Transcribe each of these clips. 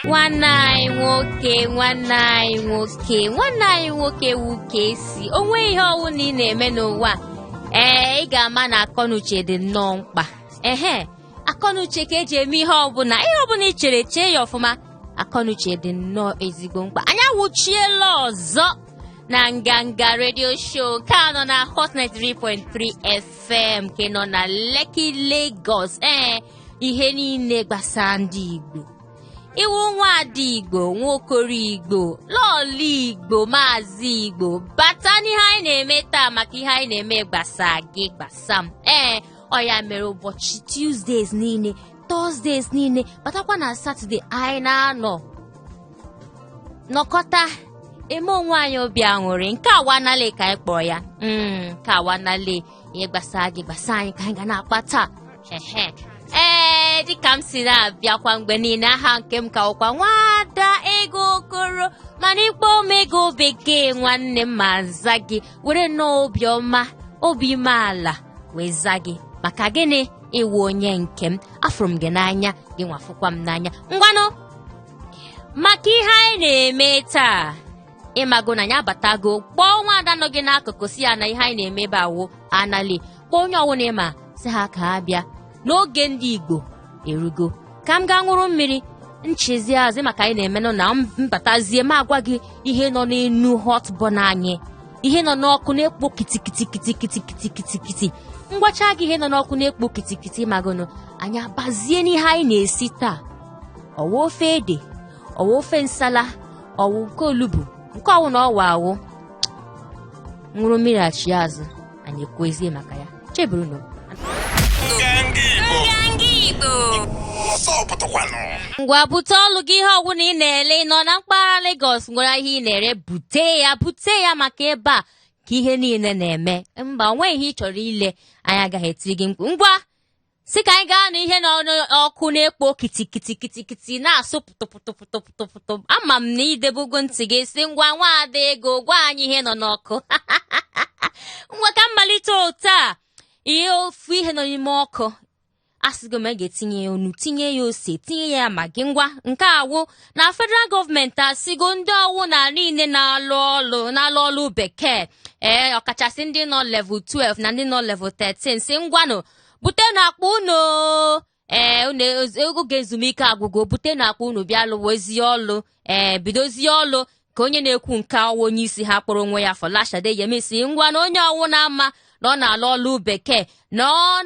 nwanne anyị nwoke nwanne anyị nwoke nwanne anyị nwoke wuke si onwe ihe ọwụna ị na-eme n'ụwa ee ị ga-ama na akọnuche dị nnọọ mkpa ehe akọnuche ka eji eme ihe ọbụla ihe ọbụla ị chere chee ya ọfụma akọnuche dị nnọọ ezigbo mkpa anyị awụchiela ọzọ na nganga radio show nke nọ na hot 93.3 f FM nke nọ na Lekki Lagos ee ihe niile gbasara ndị Igbo ị wụ nwaada Igbo nwokoro Igbo lọọlụ Igbo maazị Igbo bata n'ihe anyị na-eme taa maka ihe anyị na-eme gbasa gị gbasa m ee ọ ya mere ụbọchị Tuesdays niile Thursdays niile batakwa na Saturday anyị na-anọ nọkọta eme onwe anyị obi aṅụrị nke a wanale ka anyị kpọrọ ya Mm, nke a wanale ihe gbasara gị gbasara anyị ka anyị ga na-akpa taa Ehe. ee dịka m si na-abịakwa mgbe niile aha nke m ka wụkwa nwada ego okoro mana ị kpọọ m ego bekee nwanne m m aza gị were nnọọ obiọma obi umeala wee za gị maka gịnị ị wụ onye nke m afụrụ m gị n'anya gị nwa fụkwa m n'anya ngwanụ maka ihe anyị na-eme taa ị mago na anyị abatago kpọọ nwa ada nọ gị n'akụkụ sị ya na ihe anyị na-eme ebe a wụ anali kpọọ onye ọwụna ị ma sị ha ka ha bịa na oge ndị igbo erugo ka m gaa ṅụrụ mmiri nchezi azụ maka anyị na-emenụ na m batazie m agwa gị ihe nọ n'enu hot burner anyị ihe nọ n'ọkụ na-ekpo kitikitikitikitikitikitikiti m gwacha gị ihe nọ n'ọkụ na-ekpo kitikiti magonụ anyị abazie n'ihe anyị na-esi taa ọ wụ ofe ede ọ wụ ofe nsala ọ wụ nke olugbu nke ọwụna ọ wụ awụ ṅụrụ mmiri achị azụ anyị ekwuezie maka ya cheburunụ ngwa bute ọlụ gị ihe ọwụna ị na-ele ị nọ na mpaghara Lagos nwere ihe ị na-ere bute ya bute ya maka ebe a ka ihe niile na-eme mba onweghị ihe ị chọrọ ile anyị agaghị etiri gị mkpu ngwa si ka anyị gaa n'ihe nọ n'ọkụ na-ekpo kitikitikiti na-asụ pụtụpụtụpụtụpụtụ ama m na i debego ntị gị sị ngwa nwaada ego gwa anyị ihe nọ n'ọkụ ngwa ka m malite otu a ihe ofu ihe nọ n'ime ọkụ asịgo m a ga-etinye ya nnu tinye ya ose tinye ya maggi ngwa nke a wụ na federal gọọmenti asịgo ndị ọwụna niile na-alụ ọlụ na-alụ ọlụ bekee ee ọkachasị ndị nọ level 12 na ndị nọ level 13 sị ngwanụ butenụ akpa unu ee oge ezumike agwụgo butenụ akpa unu bịa lụwazie ọlụ ee bidozie ọlụ ka onye na-ekwu nke a wụ onye isi ha kpọrọ onwe ya Fọlashade Yemisi ngwanụ onye ọwụna ma na ọ na-alụ ọlụ bekee na ọ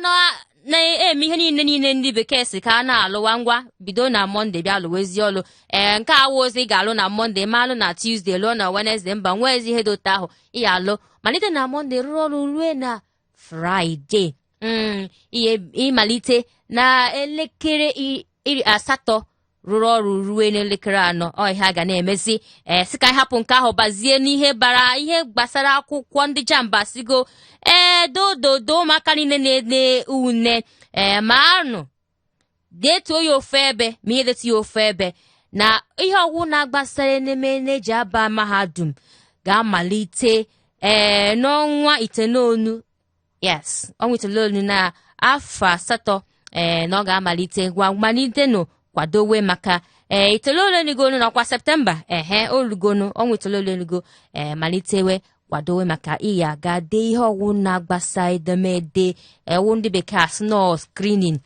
na-eme ihe niile niile ndị bekee sị ka a na-alụwa ngwa bido na mọnde bịa lụwazie ọlụ ee nke a wụzi ị ga-alụ na mọnde ma alụ na tuzdee lụọ na wenezde mba o nwezi ihe dị otu ahụ ị ya-alụ malite na mọnde rụrụ ọrụ rue na fraịde mm, ị ya-amalite na elekere i- iri asatọ rụrụ ọrụ ruo n'elekere anọ ọ ihe a ga na-emezi ee sị ka anyị hapụ nke ahụ bazie n'ihe bara ihe gbasara akwụkwọ ndị JAMB asịgo ee dododo ụmụaka niile na-ede une ee manụ detuo ya ofu ebe ma ihe detu ya ofu ebe na ihe ọwụna gbasara ememe na-eji aba mahadum ga-amalite ee eh, n'ọnwa itoolu yes ọnwa itoolu na afọ asatọ ee eh, na ọ ga-amalite ngwa malitenụ kwadowe maka ee eh, itoolu elugonụ ọkwa septemba ehe o lugonụ ọnwa itoolu elugo ee malitewe kwadowe maka ị ya-aga dee ihe ọwụna gbasara edemede wụ ndị bekee asị na ọ screening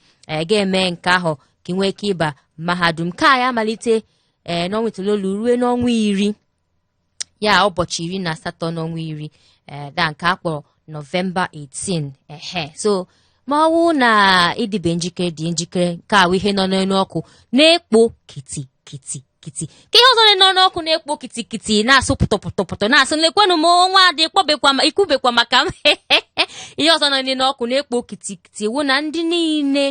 gaa mee nke ahụ ka ị nwee ike ịba mahadum ka ya amalite ee n'ọnwa itoolu ruo n'ọnwa iri ya ụbọchị iri na asatọ n'ọnwa iri ee da nke a kpọrọ nọvemba 18 ehe so ma ọ wụ na ị dịbe njikere dị njikere nke a wụ ihe nọ n'elu ọkụ na-ekpo kiti kiti kitikiti ka ihe ọzọ nọ n'ọkụ na-ekpo kitikiti na-asụ pụtọpụtọpụtọ na-asụ lekwanụ m nwada kpọbekwa ma ikwubekwa maka m ihe ọzọ nọ n'elu n'ọkụ na-ekpo kitikiti wụ na ndị niile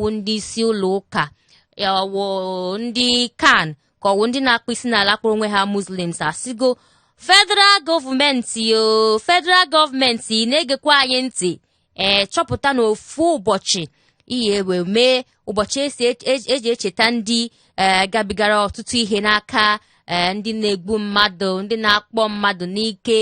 wụ ndị isi ụlọ ụka ọwụ ndị CAN ka ọwụ ndị na-akpọ isi n'ala kpọrọ onwe ha muslims asịgo federal gọọmenti o federal gọọmenti na-egekwa anyị ntị ee chọpụtanụ ofu ụbọchị ị ya-ewe mee ụbọchị esi eji echeta ndị ee gabigara ọtụtụ ihe n'aka ee ndị na-egbu mmadụ ndị na-akpọ mmadụ n'ike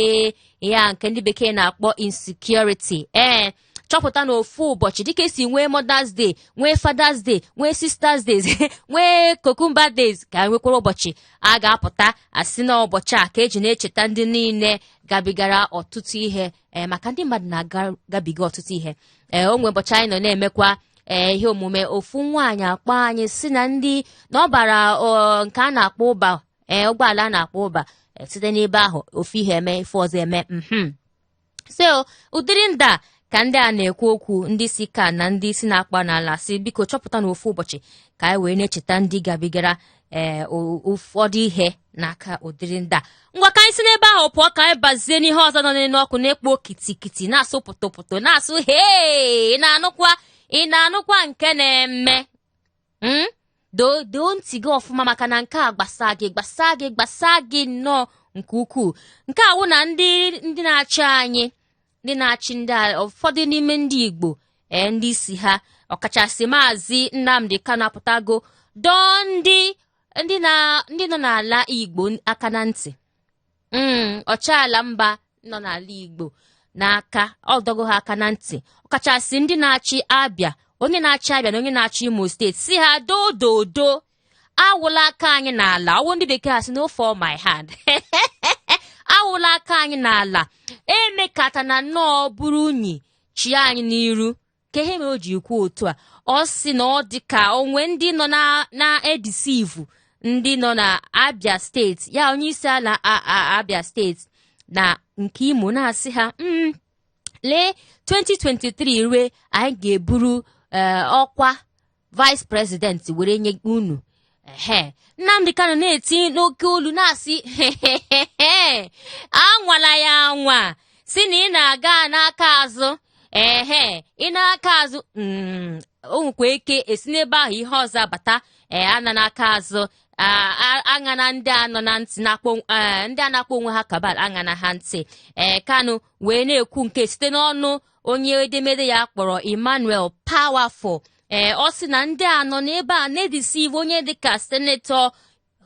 ya nke ndị bekee na-akpọ insecurity ee chọpụtanụ ofu ụbọchị dịka esi nwee mothers day nwee fathers day nwee sisters days nwee cucumber days ka nwekwara ụbọchị a ga-apụta asị na ụbọchị a ka eji na-echeta ndị niile gabigara ọtụtụ ihe ee maka ndị mmadụ na-agabiga ọtụtụ ihe ee o nwe ụbọchị anyị nọ na-emekwa ee ihe omume ofu nwaanyị akpọ anyị sị na ndị na ọ bara nke a na-akpọ Uber ee ụgbọala a na-akpọ Uber e, site n'ebe ahụ ofu ihe eme ife ọzọ eme mhm. so ụdịrị ndị a ka ndị a na-ekwu okwu ndị isi CAN na ndị isi na-akpọ n'ala sị biko chọpụtanụ ofu ụbọchị ka anyị wee na-echeta ndị gabigara ee ụfọdụ ihe n'aka ụdịrị ndị a ngwa ka anyị si n'ebe ahụ pụọ ka anyị bazie n'ihe ọzọ nọ n'elu ọkụ na-ekpo kitikiti na-asụ pụtụpụtụ na-asụ hee ị na-anụkwa ị na-anụkwa nke na-eme m doo doo ntị gị ọfụma maka na nke a gbasa gị gbasa gị gbasa gị nnọọ nke ukwuu nke a wụ na ndị ndị na-achị anyị ndị na-achị ndị a ụfọdụ n'ime ndị igbo ee ndị isi ha ọkachasị maazị nnamdi kanu apụtago dọọ ndị ndị na- ndị nọ n'ala igbo aka na ntị Mm, ọchịala mba nọ n'ala igbo n'aka ọ dọgo ha aka na ntị ọkachasị ndị na-achị abịa onye na-achị abịa na onye na-achị imo steeti si ha doo doo doo awụla aka anyị n'ala ọ wụ ndị bekee asị no fall my hand awụla aka anyị n'ala emekatana nnọọ buru unyi chie anyị n'iru kee ihe mere o ji kwuo otu a ọ sị na ọ dị ka o nwe ndị nọ na- na-edisivu ndị nọ na abia steeti ya onye isi ala a- a- abia steeti na nke imo na-asị ha "Mm, lee 2023 rue anyị ga-eburu eh, ọkwa vice president were nye unu ehe nnamdi kanu na-eti n'oke olu na-asị hehehehe anwala ya anwa sị na ị na-aga n'aka azụ ehe ị na-aka azụ mm, o nwekwa ike e si n'ebe ahụ ihe ọzọ abata ee ana n'aka azụ a- a- aṅana ndị a nọ na ntị na-akpọ ee, ndị a na-akpọ onwe ha cabal aṅana ha ntị ee kanu wee na-ekwu nke site n'ọnụ onye edemede ya a kpọrọ Emmanuel Powerful ee ọ sị na ndị a nọ n'ebe a na-edisive onye dịka senetọ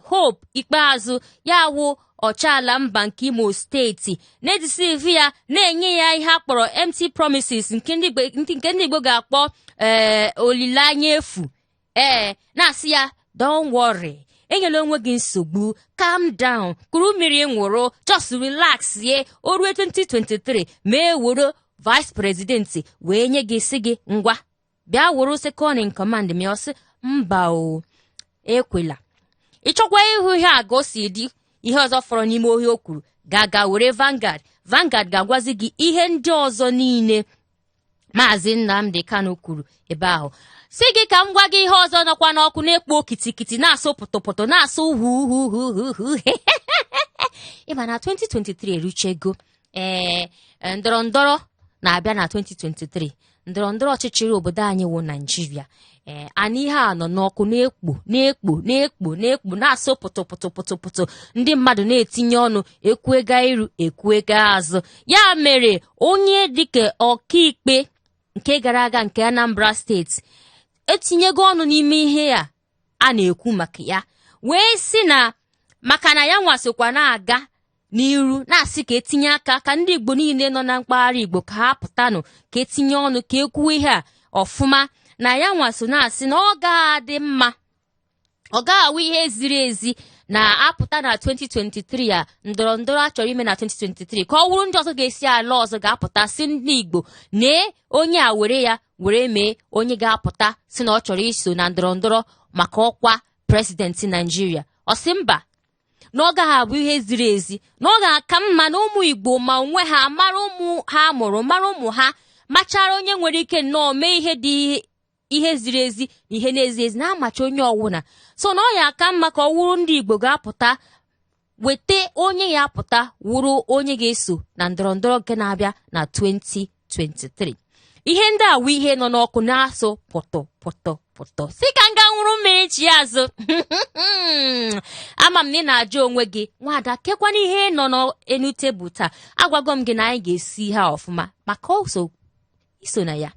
Hope Ikpeazụ ya wụ ọchịala mba nke Imo steeti na-edisive ya na-enye ya ihe a kpọrọ empty promises nke ndị Igbo ga-akpọ ee olileanya efu ee na-asị ya don't worry enyela onwe gị nsogbu calm down kuru mmiri ṅụrụ just relax ye o ruo 2023 ma e woro vice president wee nye gị sị gị ngwa bịa woro second in command ma ọ sị mba o ekwela ị chọkwa ịhụ ihe a ka o si dị ihe ọzọ fọrọ n'ime ihe o kwuru gaa ga were Vanguard Vanguard ga-agwazi gị ihe ndị ọzọ niile maazị Nnamdi Kanu kwuru ebe ahụ sị gị ka m gwa gị ihe ọzọ nọkwa n'ọkụ na-ekpo kitikiti na-asụ pụtụpụtụ na-asụ huhuhuhuhu ị ma na 2023 eruchego ee ndọrọ ndọrọ na-abịa na 2023 ndọrọ ndọrọ ọchịchị obodo anyị wụ naịjirịa ee anyị ihe a nọ n'ọkụ na-ekpo na-ekpo na-ekpo na-ekpo na-asụ pụtụ pụtụ pụtụ pụtụ ndị mmadụ na-etinye ọnụ e kwuga iru e kwuga azụ ya mere onye dịka ọkaikpe nke gara aga nke Anambra steeti etinyego ọnụ n'ime ihe a a na-ekwu maka ya wee sị na maka na ya nwa sokwa na-aga n'iru na-asị ka etinye aka ka ndị Igbo niile nọ na mpaghara Igbo ka ha pụtanụ ka etinye ọnụ ka ekwuo ihe a ọfụma na ya nwa so na-asị na ọ ga-adị mma ọ gaghị awụ ihe ziri ezi na a pụta na 2023 a ndọrọ ndọrọ a chọrọ ime na 2023 ka ọ wụrụ ndị ọzọ ga-esi ala ọzọ ga-apụta sị ndị Igbo nee onye a were ya were mee onye ga-apụta sị na ọ chọrọ iso na ndọrọ ndọrọ maka ọkwa prezidenti Naijiria ọ sị mba na ọ gaghị abụ ihe ziri ezi na ọ ga-aka mma na ụmụ Igbo ma onwe ha mara ụmụ ha mụrụ mara ụmụ ha machara onye nwere ike nnọọ mee ihe dị ihe ziri ezi na ihe na-ezi ezi na-amacha onye ọwụna so na ọ ya aka mma ka ọ wụrụ ndị Igbo ga-apụta weta onye ya apụta wụrụ onye ga-eso na ndọrọ ndọrọ nke na-abịa na 2023 ihe ndị a wụ ihe nọ n'ọkụ na-asụ pụtụ pụtụ pụtụ sị ka m gaa nwụrụ mmiri chi azụ ama m na ị na-ajụ onwe gị nwada kekwana ihe nọ n'enu tebụl taa agwago m gị na anyị ga-esi ha ọfụma maka ọsọ i so na ya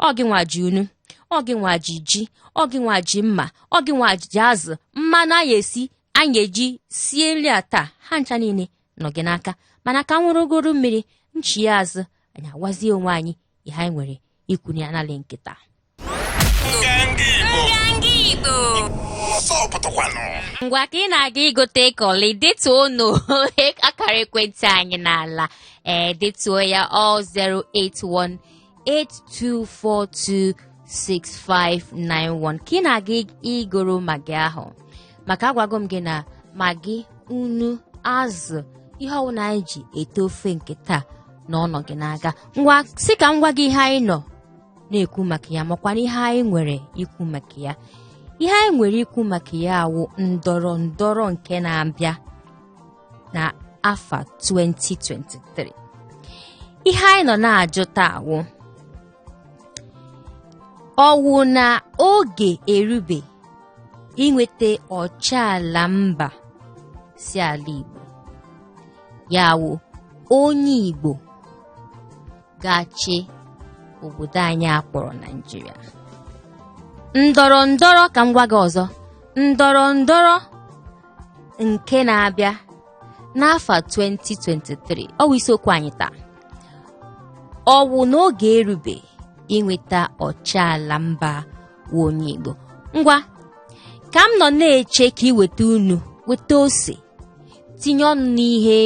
ọ gị nwa ji unu ọ gị nwa ji ji ọ gị nwa ji mma ọ gị nwa ji azụ mmanụ anyị esi anyị eji sie nri a taa ha ncha niile nọ gị n'aka mana ka nwụrụgoro mmiri nchie azụ anyị agwazie onwe anyị ihe anyị nwere ikwu na anali nkịta ngwa ka ị na-aga igote kọlị detuonu akara ekwentị anyị n'ala ee detuo ya ọ 08182426591 ka ị na-aga igoro magi ahụ maka agwago m gị na magi unu azụ ihe ọwụna anyị ji ete ofe nke taa na ọ nọ gị n'aka ngwa sị ka m gwa gị ihe anyị nọ na-ekwu maka ya makwana ihe anyị nwere ikwu maka ya ihe anyị nwere ikwu maka ya awụ ndọrọ ndọrọ nke na-abịa na afa 2023 ihe anyị nọ na-ajụ taa wụ ọ wụ na oge erube inweta ọchịala mba si ala Igbo ya wụ onye Igbo ga-achị obodo anyị akpọrọ Naijiria ndọrọ ndọrọ ka m gwa gị ọzọ ndọrọ ndọrọ nke na-abịa n'afọ 2023 ọ wụ isiokwu anyị taa ọ wụ n'oge erube inweta ọchịala mba wụ onye Igbo ngwa ka m nọ na-eche ka i weta nnu weta ose tinye ọnụ n'ihe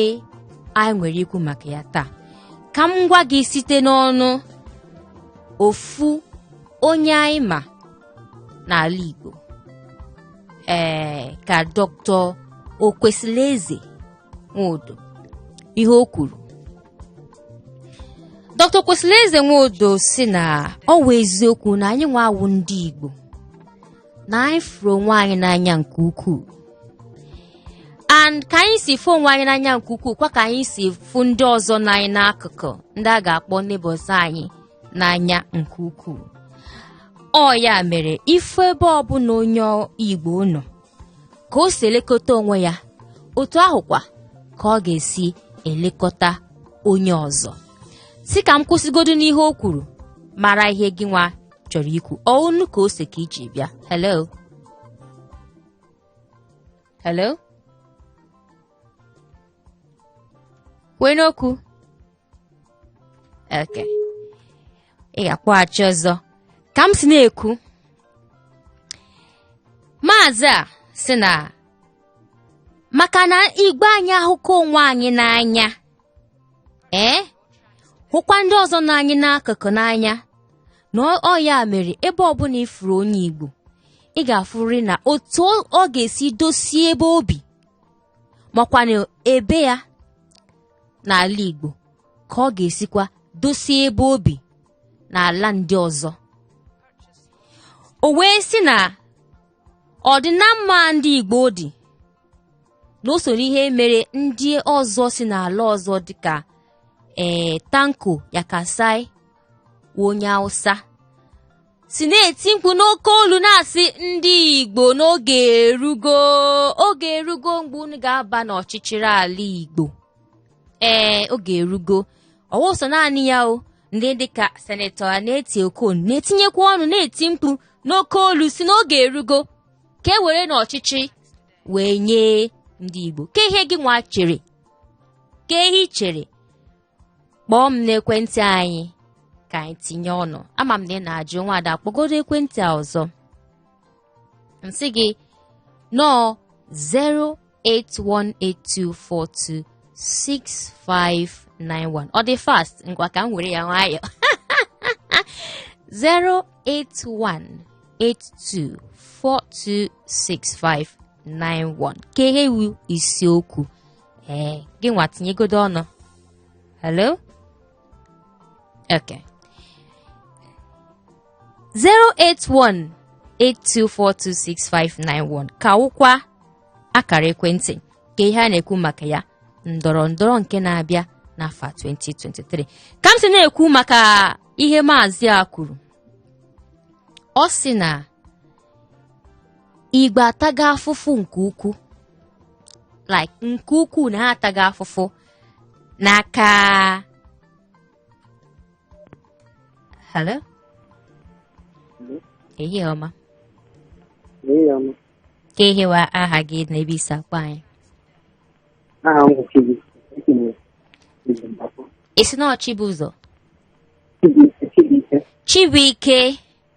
anyị nwere ikwu maka ya taa ka m gwa gị site n'ọnụ ofu onye anyị ma n'ala Igbo ee ka Dr. Okwesilieze Nwodo ihe o kwuru Dr. Okwesilieze Nwodo sị na ọ wụ eziokwu na anyị nwa awụ ndị Igbo na anyị fụrụ onwe anyị n'anya nke ukwuu and ka anyị si fụ onwe anyị n'anya nke ukwuu kwa ka anyị si fụ ndị ọzọ nọ anyị n'akụkụ ndị a ga-akpọ neighbors anyị n'anya nke ukwuu ọ ya mere ị fụ ebe ọbụla onye Igbo nọ ka o si elekọta onwe ya otu ahụkwa ka ọ ga-esi elekọta onye ọzọ si ka m kwụsịgodu n'ihe o kwuru mara ihe gị nwa chọrọ ikwu ọ nnu ka ọ ose ka i ji bịa hello hello kwee n'okwu okay ị ga-akpọghachi ọzọ ka m si na-ekwu maazị a sị na maka na Igbo anyị ahụkọ onwe anyị n'anya ee hụkwa ndị ọzọ nọ anyị n'akụkụ n'anya na ọ ya mere ebe ọbụla ị fụrụ onye Igbo ị ga-afụrịrị na otu ọ ga-esi dosie ebe o bi makwana ebe ya n'ala Igbo ka ọ ga-esikwa dosie ebe o bi n'ala ndị ọzọ o wee sị na ọdịnamma ndị Igbo dị na o soro ihe mere ndị ọzọ si n'ala ọzọ dịka ee eh, Tanko Yakasai onye Hausa si na-eti mkpu n'oke olu na-asị ndị Igbo n'oge erugo oge erugo mgbe unu ga-aba n'ọchịchị ala Igbo ee oge erugo ọ wụ sọ naanị ya o ndị dịka senetọ Anietie Okon na-etinyekwa ọnụ na-eti mkpu n'oke olu sị n'oge erugo ka e were n'ọchịchị wee nye ndị Igbo kee ihe gị nwa chere kee ihe i chere kpọọ m n'ekwentị anyị ka anyị tinye ọnụ ama m na ị na-ajụ nwaada kpọgodo ekwentị a ọzọ m sị gị na ọ 08182426591 ọ dị fast ngwa ka m were ya nwayọọ 08182426591 kee ihe wụ isiokwu ee gị nwa tinyegodo ọnụ hello okay 08182426591 ka wụkwa akara ekwentị kee ihe a na-ekwu maka ya ndọrọ ndọrọ nke na-abịa n'afọ 2023 ka m si na-ekwu maka ihe maazị a kwuru ọ sị na Igbo ataga afụfụ nke ukwu like nke ukwu na ha ataga afụfụ n'aka hello ehihie ọma kee ihe wụ aha gị na ebe i si akpọ anyị ị sị na ọ Chibụzọ Chibuike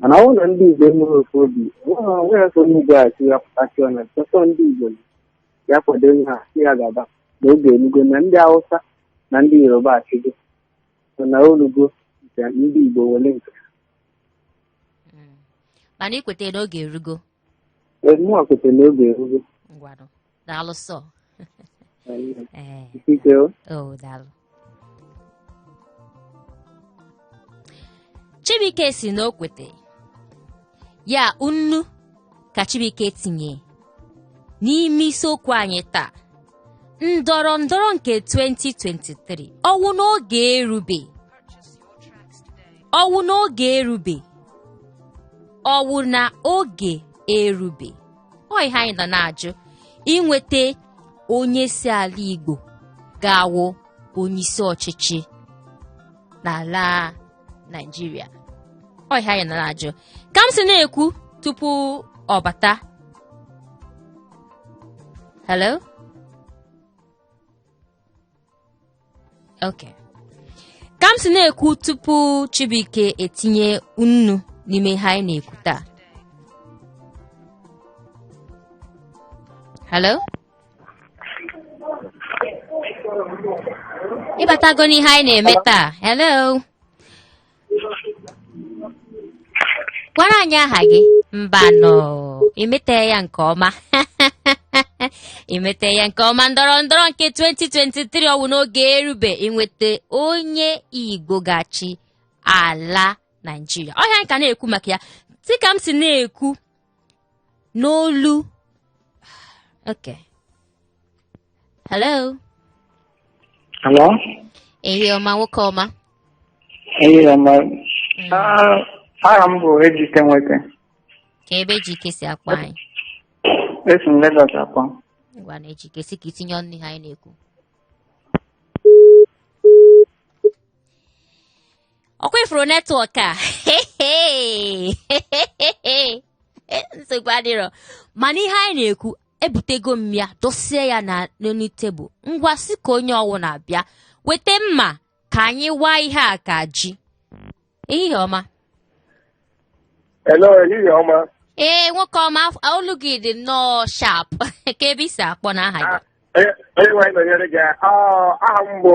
mana ọ na ndị igbo enweghị ofu obi onwe ya ka onye igbo a si ya pụtasị ọnya chọtọ ndị igbo ya kwado ihe a si ya gaba na oge elugo na ndị hausa na ndị yoruba achịgo so na olugo nke ndị igbo wele nke mana i kwete na oge erugo mụnwa kwete na oge erugo ngwanụ daalụ sọ ee Ikike o. o daalụ chibuike si na o kwete ya nnu ka chibuike tinye n'ime isiokwu anyị taa ndọrọ ndọrọ nke 2023 ọwụ n'oge erube ọwụ n'oge erube ọwụ na oge erube ọ ihe anyị nọ na-ajụ inweta onye si ala Igbo ga-awụ onyeisi ọchịchị n'ala Naịjirịa ọ ihe anyị nọ na-ajụ ka m si na-ekwu tupu ọ bata hello okay ka m si na-ekwu tupu chibuike etinye nnu n'ime ihe anyị na-ekwu taa hello ị batago n'ihe anyị na-eme taa hello gwara anyị aha gị mbanụ imete ya nke ọma imete ya nke ọma ndọrọ ndọrọ nke 2023 ọ wụ na oge erube inweta onye igbo ga-achị ala naijiria ọ ihe a anyị ka na-ekwu maka ya dịka m si na-ekwu n'olu okay hello Hello? ehihie ọma nwoke ọma Ehihie ọma. Ah, Aha m bụ Ejike Nweke. kee ebe Ejike si akpọ anyị Esi m Lagos akpọ. ngwa na Ejike sị ka i tinye ọnụ ihe anyị na-ekwu ọkwa ị fụrụ netwọk a nsogbu adịrọ mana ihe anyị na-ekwu ebutego m ya dosie ya na n'elu tebụl ngwa sị ka onye ọwụna bịa weta mma ka anyị waa ihe a ka ji ehihie ọma Hello, ehihie ọma. ee nwoke ọma af- olu gị dị nnọọ sharp kee ebe i si akpọ na aha gị Ah, Onye onye nwe anyị nọnyere gị. Ah, Aha m bụ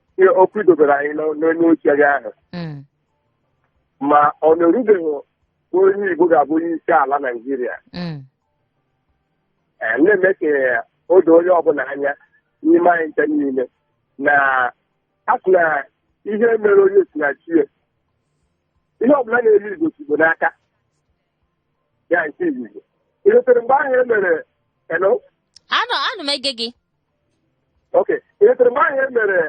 ihe okwu i dobere anyị n'o- n'elu oche gị ahụ Mm. ma ọ na-erubeghị onye Igbo ga-abụ onye isi ala Naijiria Mm. Eh, na-eme ka o doo onye ọbụla anya n'ime anyị ncha niile na a sị na ihe mere onye si na chi ya ihe ọbụla na-eme igbo si igbo n'aka ya nke izizi i chetere mgbe ahụ e mere eno Ana m ege gị. okay i chetere mgbe ahụ e mere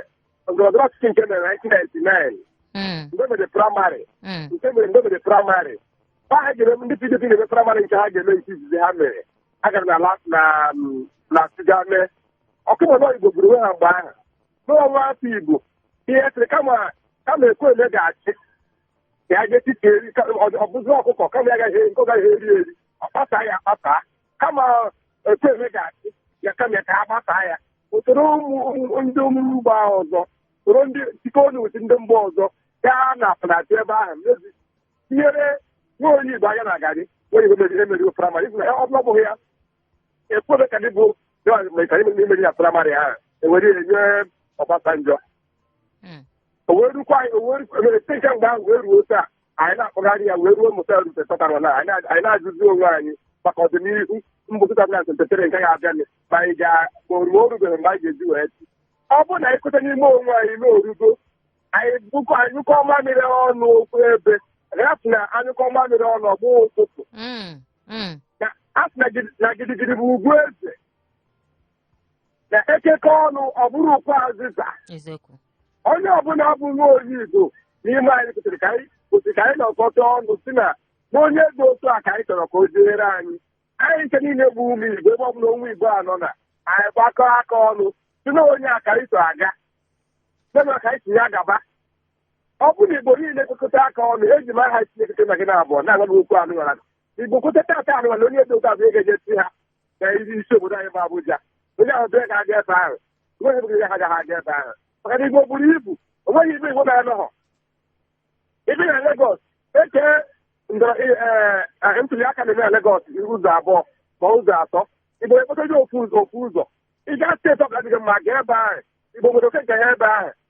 ndọrọndọrọ ọchịchị nke mere 1999 Mm, mgbe mere praịmarị mm, nke mere mgbe mere praịmarị ma ha ga-eme ndị pdp na-eme praịmarị nke ha ga-eme nke izizi ha mere a gara na la- na mm, na Plateau gaa mee ọkwa ị ma na igbo gburu onwe ha mgbe ahụ na nwa afọ igbo ihe sịrị kama kama Ekwueme ga-achị ka ya ga-etiti eri ka- ọ- ọ bụzi ọkụkọ kama ya gaghị nke ọ gaghị eri eri ọ kpasaa ya akpasa kama Ekwueme ga-achị ya kama ya ka ha kpasaa ya o soro ụmụ ụmụ- ndị mba ọzọ soro ndị tikọọ ọnụ ụdị ndị mba ọzọ gaa na Plateau ebe ahụ mezi tinyere nwa onye igbo aja na garị nwa igbo meziri emerigo praịmarị ibu na ya ọ bụrụ na abụghị ya Ekwueme ka dị bụ imeri na praịmarị ahụ e were ya nye Ọbasanjọ Mm. o wee rukwa anyị o wee rukwa emere site mgbe ahụ wee ruo taa anyị na-akpọgharị ya wee ruo taa nke kpatara na anyị na- anyị na-ajụzi onwe anyị maka ọdịnihu mbụ 2023 nke ga-abịanụ ma anyị ga ma o ruo orubeghị mgbe anyị ga-eji wee chi ọ bụrụ na anyị kweta n'ime onwe anyị na orugo anyị bụkọ a nyụkọọ mamịrị ọnụ okwu ebe a sị na a nyụkọọ mamịrị ọnụ ọ gbọọ ụfụfụ Mm, mm. na a sị na gidi- na gidigidi bụ ugwu eze na e kekọọ ọnụ ọ bụrụ ukwu azịza eziokwu onye ọbụla bụ nwa onye Igbo n'ime anyị kwesịrị ka anyị kwesịrị ka anyị nọkọta ọnụ si na na onye dị otu a ka anyị chọrọ ka o jeere anyị anyị nke niile bụ ụmụ Igbo ebe ọ bụla onye Igbo nọ na anyị gbakọ aka ọnụ si na onye a ka anyị so aga mema ka anyị si ya gaba ọ bụ na Igbo niile gbakọta aka ọnụ eji m aha Chineke na gị na abụọ na-agwa gị okwu na ọ bụ na Igbo kweta tata na ọ bụ onye dị otu a bụ ị ga-eje si ha na isi obodo anyị bụ Abuja onye ahụ bịa ga-aga ebe ahụ onweghị ebe ga ha agaghị aga ebe ahụ maka na igbo buru ibu onweghị ebe igbo na-anọghọ ị bịa na Legọs e kee ntuli aka na-eme na Legọs ụzọ abụọ ma ụzọ atọ igbo eketa ofu ụzọ ofu ụzọ ị gaa steeti ọbụla dị gị mma gaa ebe ahụ igbo nwere oke nke ya ebe ahụ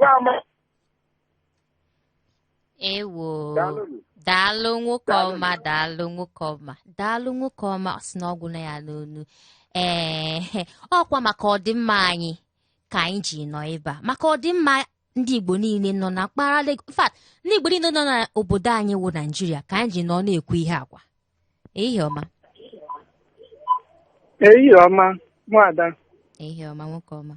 Ya ama ewo Daalụ nụ. daalụ nwoke Daalụ ọma nụ. daalụ nwoke ọma daalụ nwoke ọma ọ sị na ọ gwụna ya n'ọnụ ee ọkwa maka ọdịmma anyị ka anyị ji nọ ebe a maka ọdịmma ndị igbo niile nọ na mpaghara Lagos in fact ndị igbo niile nọ n'obodo anyị wụ naijiria ka anyị ji nọ na-ekwu ihe a ngwa ehihie ọma ehihie ọma nwada ehihie ọma nwoke ọma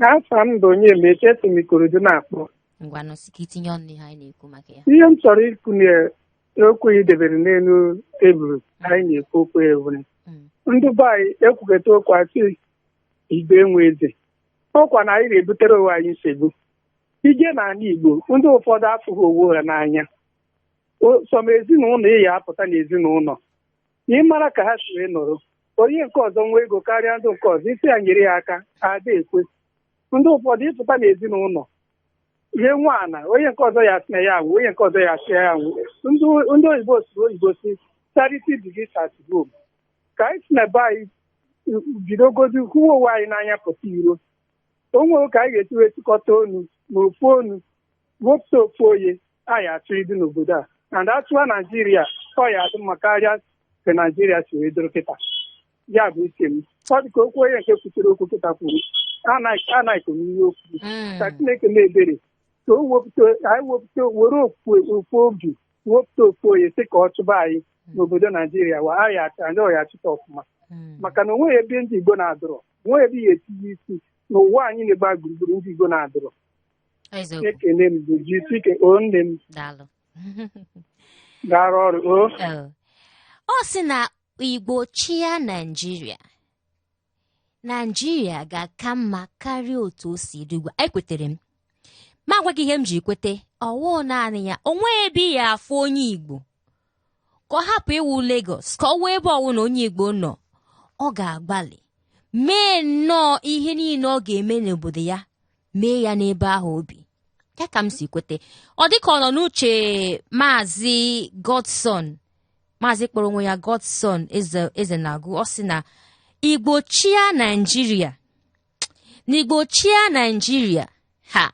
afa m bụ Onyemaechi si m Ikorodu na-akpọ ngwanụ sị ka itinye ọnụ n'ihe anyị na-ekwu maka ya ihe m chọrọ ikwu n'okwu ị debere n'elu tebụl anyị na-ekwu okwu ewere Mm. ndị be anyị ekwukata okwu asị igbo enwe eze ọkwa na anyị na-ebutere onwe anyị nsogbu ị je n'ala igbo ndị ụfọdụ afụghị onwe ha n'anya O- some ezinụlọ ị ya apụta n'ezinụlọ ị mara ka ha si wee nọrọ onye nke ọzọ nwee ego karịa ndị nke ọzọ ị sị ya nyere ya aka ada ekwe ndị ụfọdụ ị pụta n'ezinụlọ ihe nwa ana onye nke ọzọ ya asị na ya anwụ onye nke ọzọ ya asị ya ya anwụ ndị ndị oyibo sụrụ oyibo sị charity begins at home ka anyị si na be anyị bidogodi hụwa onwe anyị n'anya pụta iro o nwere ka anyị ga-esi wee chịkọta onu na ofu onu wepụta ofu onye a ya achị anyị n'obodo a na ndị a chịwa naijiria ọ ya adị mma karịa ka naijiria si wee dịrị kịta ya bụ uche m ọ dị ka okwu onye nke kwuchiri okwu kịta kwuru anaghịkọ n'ihe okwu ka chineke mee ebere ka o wepụta anyị wepụta were ofu obi wepụta ofu onye sị ka ọ chịba anyị n'obodo naijiria wa anyị achọ anyị ọ ya achịta ọfụma maka na onweghị ebe ndị igbo na-adịrọ onweghị ebe ị ya etinye isi n'ụwa niine gbaa gburugburu ndị igbo na-adịrọ eziokwu ekene m bụ jisike o nne m daalụ gara ọrụ o Ee. ọ sị na igbo chịa naijiria naijiria ga-aka mma karịa otu o si dị ugbu a ekwetere m m agwa gị ihe m ji kwete ọwụ naanị ya onwe ebe ị ya afụ onye igbo ka ọ hapụ ịwụ Lagos ka ọ wụ ebe ọwụna onye igbo nọ ọ ga-agbalị mee nnọọ ihe niile ọ ga-eme n'obodo ya mee ya n'ebe ahụ obi ya ka m si kwete ọ dịka ọ nọ n'uche maazị godson maazị kpọrọ onwe ya godson ezenagụ ọ sị na igbo chịa naijiria na igbo chịa naijiria ha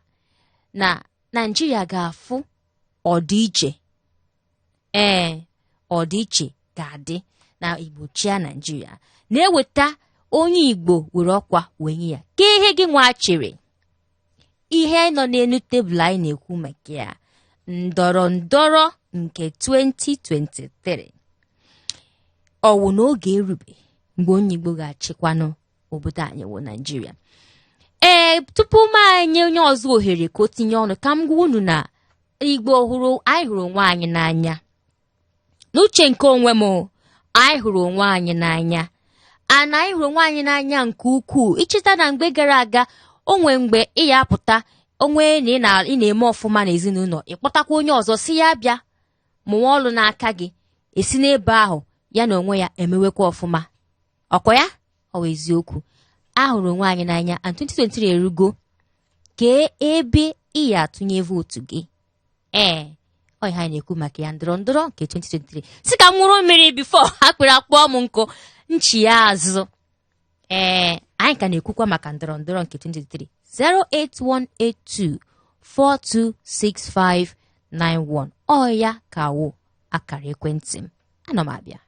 na naijiria ga-afụ ọdịiche ee ọdịiche ga-adị na igbo chịa naijiria na e weta onye igbo were ọkwa wee nye ya ke ihe gị nwa chere ihe nọ n'elu tebụl anyị na-ekwu maka ya ndọrọ ndọrọ nke 2023 ọ wụ na oge erube mgbe onye igbo ga-achịkwanụ obodo anyị wụ naijiria ee tupu m enye onye ọzọ ohere ka o tinye ọnụ ka m gwa unu na igbo ọhụrụ anyị hụrụ onwe anyị n'anya n'uche nke onwe m anyị hụrụ onwe anyị n'anya ana anyị hụrụ onwe anyị n'anya nke ukwuu i cheta na mgbe gara aga o nwee mgbe ị ya apụta ọ wụ na ị na-eme ọfụma n'ezinụlọ ị kpọtakwa onye ọzọ sị ya bịa mụwa ọlụ n'aka gị e si n'ebe ahụ ya na onwe ya emewekwa ọfụma ọkwa ya ọ wụ eziokwu a hụrụ onwe anyị n'anya and 2023 erugo kee ebe ị ya atụnye vootu gị ee ọ ihe anyị na-ekwu maka ya ndọrọ ndọrọ nke 2023 sị ka m ṅụrụ mmiri before akpịrị akpọọ m nkụ nchi ya azụ ee anyị ka na-ekwukwa maka ndọrọ ndọrọ nke 2023 08182 426591 ọ ya ka wụ akara ekwentị m ana m ama ya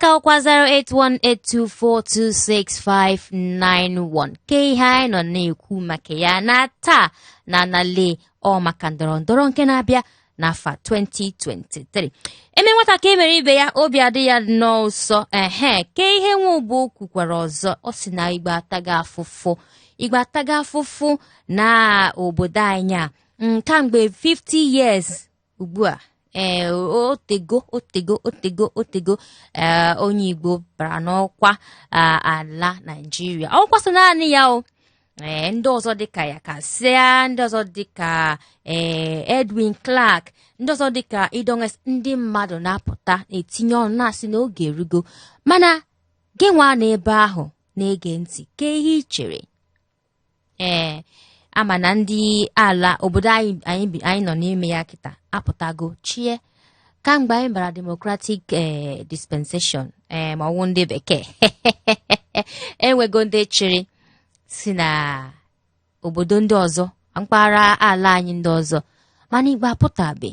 ka ọkwa 08182426591 ke ihe anyị nọ na-ekwu maka ya na taa na anale ọ maka ndọrọ ndọrọ nke na-abịa n'afọ 2023 e mee nwata ka e mere ibe ya obi adị ya nnọọ ụsọ ehe ke ihe nwa ugbo kwukwara ọzọ ọ sị na igbo atago afụfụ igbo atago afụfụ na obodo anyị a mm, kamgbe 50 years ugbu a ee eh, otego otego otego otego eh, onye igbo bara n'ọkwa eh, ala naijiria ọkwa sọ naanị ya o ee eh, ndị ọzọ dịka yakasai ndị ọzọ dịka ee eh, edwin clark ndị ọzọ dịka idongesit ndị mmadụ na-apụta na-etinye ọnụ na-asị na oge erugo mana gị nwa nọ ebe ahụ na-ege ntị ke ihe i chere ee a ma na ndị ala obodo anyị anyị bi- anyị nọ n'ime ya kịta apụtago chịa kamgbe anyị bara democratic ee dispensation ee ma ọ wụ ndị bekee e nwego ndị chịrị si na obodo ndị ọzọ mpaghara ala anyị ndị ọzọ mana igbo apụtabe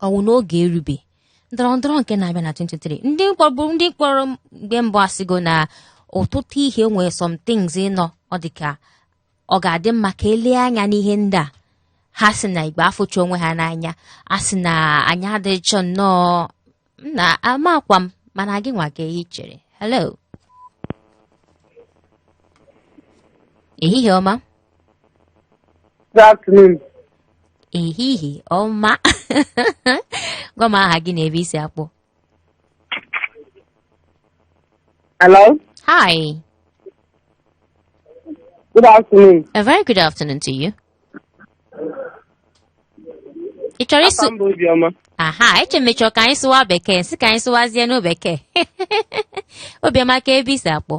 ọ wụ n'oge erube ndọrọ ndọrọ nke na-abịa na 23 ndị kpọrọ ndị kpọrọ mgbe mbụ asịgo na ọtụtụ ihe nwere some things nnọọ ọ dị ka ọ ga-adị mma ka e lee anya n'ihe ndị a ha sị na igbo afụcha onwe ha n'anya a sị na anyị adịchọ nnọọ nna amakwa m mana gị nwa ka ehi chere hello ehihie ọma Good afternoon. ehihie ọma gwa m aha gị na ebe i si akpọ Hello. hi Good afternoon. a very good afternoon to you ị chọrọ ịsụ Afa m bụ Obiọma. aha eche m ị chọ ka anyị sụwa bekee sị ka anyị sụwazienụ bekee obiọma kee ebe i si akpọ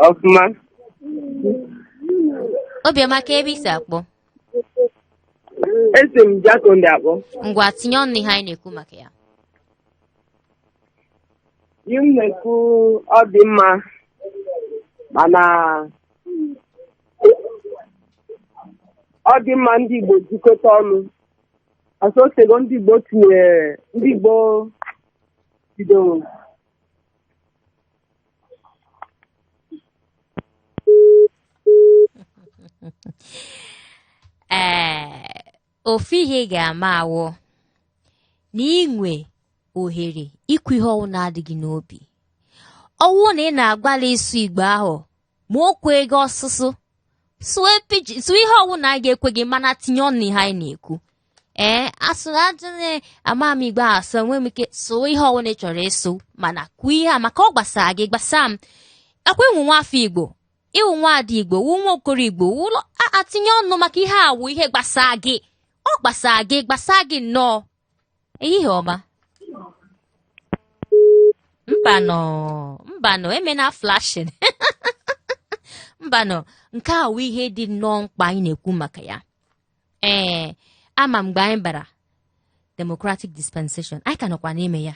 Ọfụma. obiọma kee ebe i si akpọ Esi m Jakande akpọ. ngwa tinye ọnụ n'ihe anyị na-ekwu maka ya Ihe m na-ekwu ọ dị mma mana ọ dị mma ndị Igbo jikọta ọnụ ọsọ osego ndị Igbo tinyere ndị Igbo bidoro ee ofu ihe ị ga-ama wụ na i nwe ohere ikwu ihe ọwụna dị gị n'obi ọ wụ na ị na-agbalị ịsụ igbo ahụ ma o kweghị ọsụsụ sụọ pidgin sụọ ihe ọwụna ga-ekwe gị mana tinye ọnụ n'ihe anyị na-ekwu ee asụrụ ajụghị ama m igbo asụ enwe m ike sụọ ihe ọwụna ị chọrọ ịsụ mana kwuo ihe a maka ọ gbasara gị gbasaa m akwa ị wụ nwa afọ igbo ị wụ nwa ada igbo wụ nwa okoro igbo wụlọ atinye ọnụ maka ihe a wụ ihe gbasaa gị ọ gbasaa gị gbasaa gị nnọọ ehihie ọma mbanụ mbanụ emena flashing mbanụ nke a wụ ihe dị nnọọ mkpa anyị na-ekwu maka ya ee ama mgbe anyị bara democratic dispensation anyị ka nọkwa n'ime ya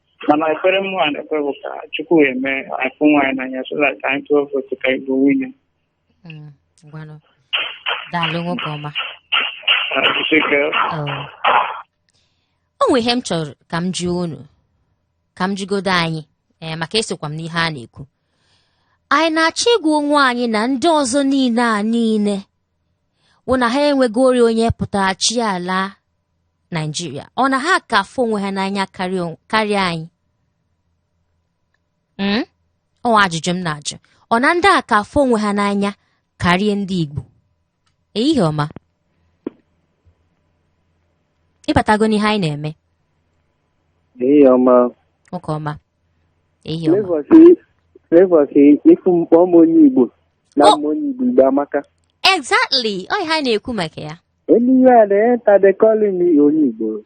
mana ekpere mụnwa na-ekpe bụ ka chukwu wee mee a fụ onwe anyị n'anya so that anyị tụọ vootu ka igbo winie Mm, ngwanụ daalụ nwoke ọma jisike Oh. o nwere ihe m chọrọ ka m jụọ unu ka m jụgodo anyị ee maka esokwa m n'ihe a na-ekwu anyị na-achọ ịgwa onwe anyị na ndị ọzọ niile a niile wụ na ha enwegori onye pụtara chịa ala naijiria ọ na ha ka afụ onwe ha n'anya karịa anyị hmm? ọ ajụjụ m na-ajụ ọ na ndị a ka afụ onwe ha n'anya karịa ndị igbo ehihie ọma ị batago n'ihe anyị na-eme ehihie ọma nwoke ọma ehihie ọma Flavour sị ị fụ m kpọọ m onye igbo na m wụ onye igbo igbo amaka exactly ọ ihe anyị na-ekwu maka ya Anywhere I enter they calling me onye Igbo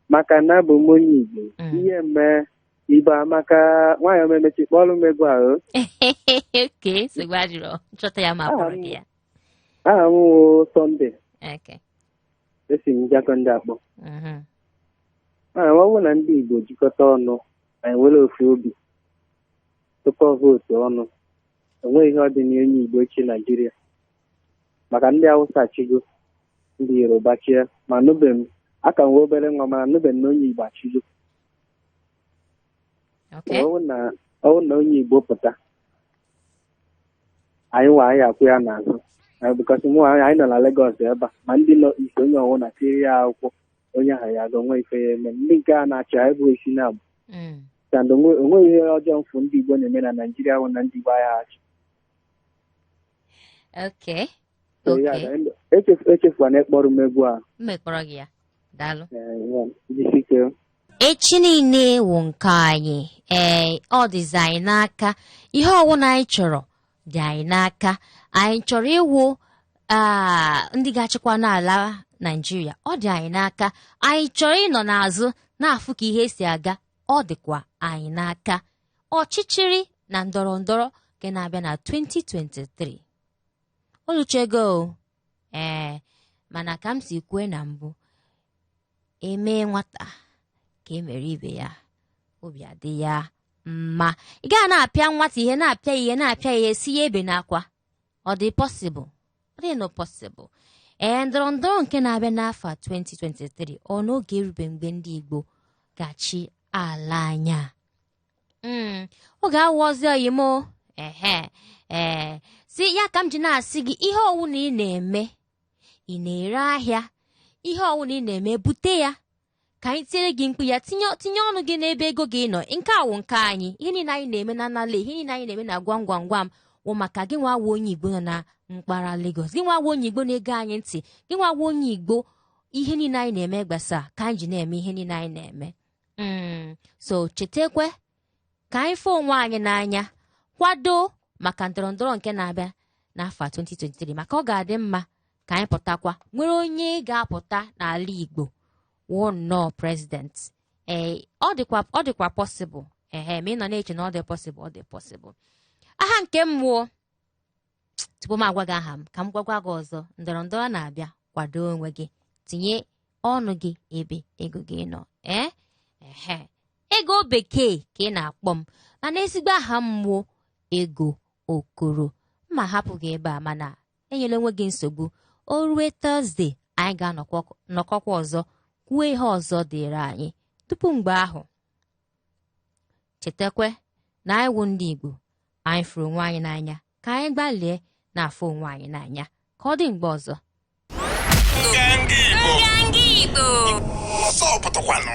maka na abụ m onye Igbo Mm. ihe mee Igbo amaka nwanyị ọma emechaa ị kpọọrọ m egwu ahụ okay nsogbu adịrọ m chọta ya m kpọọrọ gị ya aha m wụ Sunday okay esi m Jakande akpọ mhm. mana ọ bụrụ na ndị Igbo jikọta ọnụ anyị enwere ofu obi tụkọ vootu ọnụ onweghị ihe ọ dị na onye Igbo chịa Naijiria maka ndị awụsa achịgo ndị yoruba achịa ma anụbe m aka m wụ obere nwa mana anụbe m na onye igbo achịgo Okay. ọwụ na ọwụ na onye igbo pụta anyị nwa anyị akwụ ya n'azụ Eh, because ma anyị anyị nọ na Lagos ebe a ma ndị nọ East onye ọwụna tiri ya akwụkwọ onye ahụ ya ga-enwe ife ya eme ndị nke a na-achị anyị bụ isi na abụ Mm. and onwe- onweghị ihe ọjọọ m fụ ndị igbo na-eme na naijiria bụ na ndị igbo agaghị achị Okay. So, ya Okay. ga- em- echefu- echefukwana ịkpọrọ m egwu a M ga-akpọrọ gị ya. Daalụ. Eh, ya, jisi ike echi niile wụ nke anyị ee ọ dịzi anyị n'aka ihe ọwụna anyị chọrọ dị anyị n'aka anyị chọrọ ịwụ aa, ndị ga-achịkwa n'ala naijiria ọ dị anyị n'aka anyị chọrọ ịnọ n'azụ na-afụ ka ihe si aga ọ dịkwa anyị n'aka ọchịchịrị na ndọrọ ndọrọ nke na-abịa na 2023 o luchego ee mana ka m si kwue na mbụ e mee nwata ka e mere ibe ya obi adị ya mma ị gaghị na-apịa nwata ihe na-apịa ihe na-apịa ihe sị ya ebena akwa ọ dị possible ọ dịrọ possible ee ndọrọ ndọrọ nke na-abịa n'afọ 2023 ọ na oge erube mgbe ndị Igbo ga-achị ala anyị a Mm, ọ ga-awụ ozi ọma ehe ee so ya ka m ji na-asị gị ihe ọwụna ị na-eme ị na-ere ahịa ihe ọwụna ị na-eme bute ya ka anyị tiere gị mkpu ya tinye tinye ọnụ gị n'ebe ego gị nọ nke a wụ nke anyị ihe niile anyị na-eme na anala ihe niile anyị na-eme na gwam gwam gwam wụ maka gị nwa wụ onye igbo nọ na mpaghara Lagos gị nwa wụ onye igbo na-ege anyị ntị gị nwa wụ onye igbo ihe niile anyị na-eme gbasa ka anyị ji na-eme ihe niile anyị na-eme Mm, so chetakwa ka anyị fụ onwe anyị n'anya kwado maka ndọrọndọrọ nke na-abịa n'afọ 2023 maka ọ ga-adị mma ka anyị pụtakwa nwere onye ga-apụta n'ala igbo wụ nnọọ president ee ọ dịkwa ọ dịkwa possible ehe ma ị nọ na-eche na ọ dị possible ọ dị possible aha nke mụ ọ tupu m agwa gị aha m ka m gwakwa gị ọzọ ndọrọ ndọrọ na-abịa kwado onwe gị tinye ọnụ gị ebe ego gị nọ ee ehe ego bekee ka a na-akpọ m mana ezigbo aha m wụ ego okoro m ma-ahapụ gị ebe a mana enyela onwe gị nsogbu o rue Thursday anyị ga-anọkọkwa ọzọ kwuo ihe ọzọ dịrị anyị tupu mgbe ahụ chetakwe na anyị wụ ndị Igbo anyị fụrụ onwe anyị n'anya ka anyị gbalịa na-afụ onwe anyị n'anya ka ọ dị mgbe ọzọ Nganga Igbo. Nganga Igbo. Ọzọ pụtakwanụ.